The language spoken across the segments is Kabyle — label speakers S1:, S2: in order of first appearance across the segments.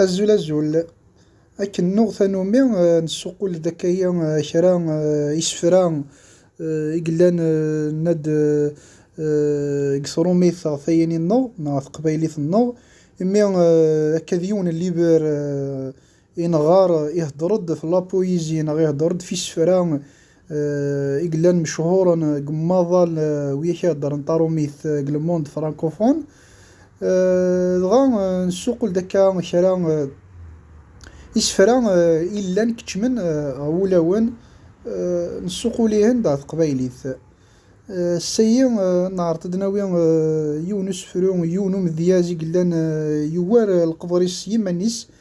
S1: Azul azul, akken nuɣ tanumi nessuqul-d akka yi kra isefra i yellan nna-d deg tṛumit ɣef tayini-nneɣ neɣ ɣef teqbaylit-nneɣ imi akka d yiwen n liber Inɣar ihedṛ-d f lapuyizi neɣ ihedṛ-d f isefra i yellan mechuṛen deg umaḍal wiyak i heddṛen taṛumit deg le monde francophone. Dɣa nessuqul-d akka kra n isefra i yellan keččmen ɣer wulawen, nessuqul ihen-d ɣer teqbaylit. Ass-ayi neɛṛeḍ ad nawi yiwen usefru, yiwen umedyaz i yellan yugar leqder-is s yiman-is.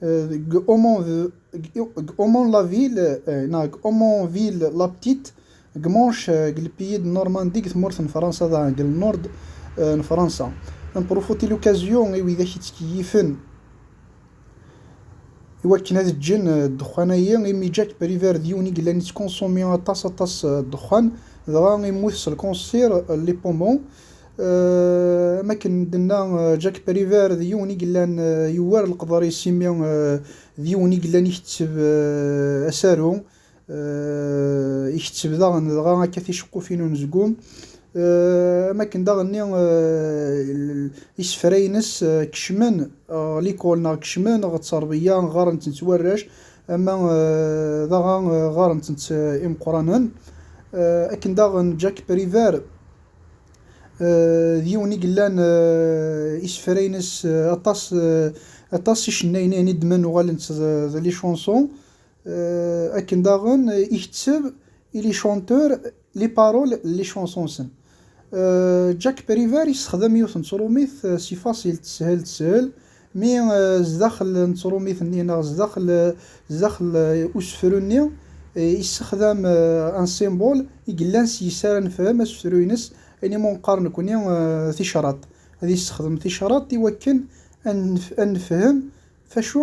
S1: Deg Aumonville, neɣ deg Aumonville la Petite, deg Manche, deg Lpiyi de Normandie, deg tmurt n Fransa daɣen, deg Lnord n Fransa. Un profot et l'occasion i widak yettkeyifen i wakken ad ǧǧen ddexxan-ayi, imi Jack Prévert d yiwen i yellan yettconsommer aṭas aṭas ddexxan, dɣa yemmut s lkansir Les Poumons. Am akken d-tenna Jack Prévert, d yiwen i yellan yuwar leqder-is imi d yiwen i yellan iketteb asaru, iketteb daɣen dɣa akka ticeqqufin n unezgum. Am akken daɣen isefra-ines kecmen ɣer likul neɣ kecmen ɣer tterbiya, ɣɣaren-tent warrac ama d aɣa ɣɣaren-tent imeqqranen. Akken daɣen Jack Prévert D yiwen i yellan isefra-ines aṭas aṭas n yicennayen ihin i d-nnan uɣalen-d d les chansons akken daɣen iketteb i les chanteurs les paroles n les chansons-nsen. Jack Prévert yessexdam yiwet n tṛumit s ifaṣ-il teshel teshel Mi zdaxel n tṛumit-nni neɣ zdaxel zdaxel usefru-nni yessexdam un symbole i yellan s yes ara nefhem asefru-ines, ini ma neqqar nekkni ticraḍ, ad yessexdem ticraḍ i wakken ad nefhem f acu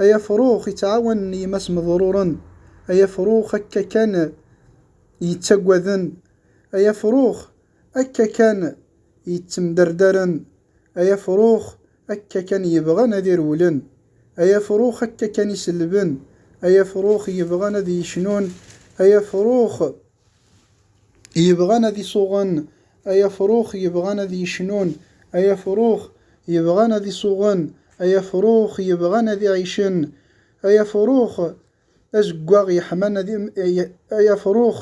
S1: Ay afrux yettɛawanen yemma-s meḍruren, ay afrux akka kan yettaggaden, ay afrux akka kan yettemderdaren, ay afrux akka kan yebɣan ad irewlen, ay afrux akka kan iselben, ay afrux yebɣan ad yecnun, ay afrux Yebɣan ad isuɣen, ay afrux yebɣan ad yecnun, ay afrux yebɣan ad isuɣen, ay afrux yebɣan ad iɛicen, ay afrux azeggaɣ yeḥman ad ay afrux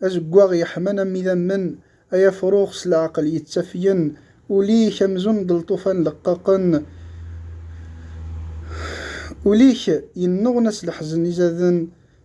S1: azeggaɣ yeḥman am idammen, ay afrux s leɛqel yettafgen, ul-ik amzun d lṭufan leqqaqen, ul-ik yennuɣna s leḥzen izaden,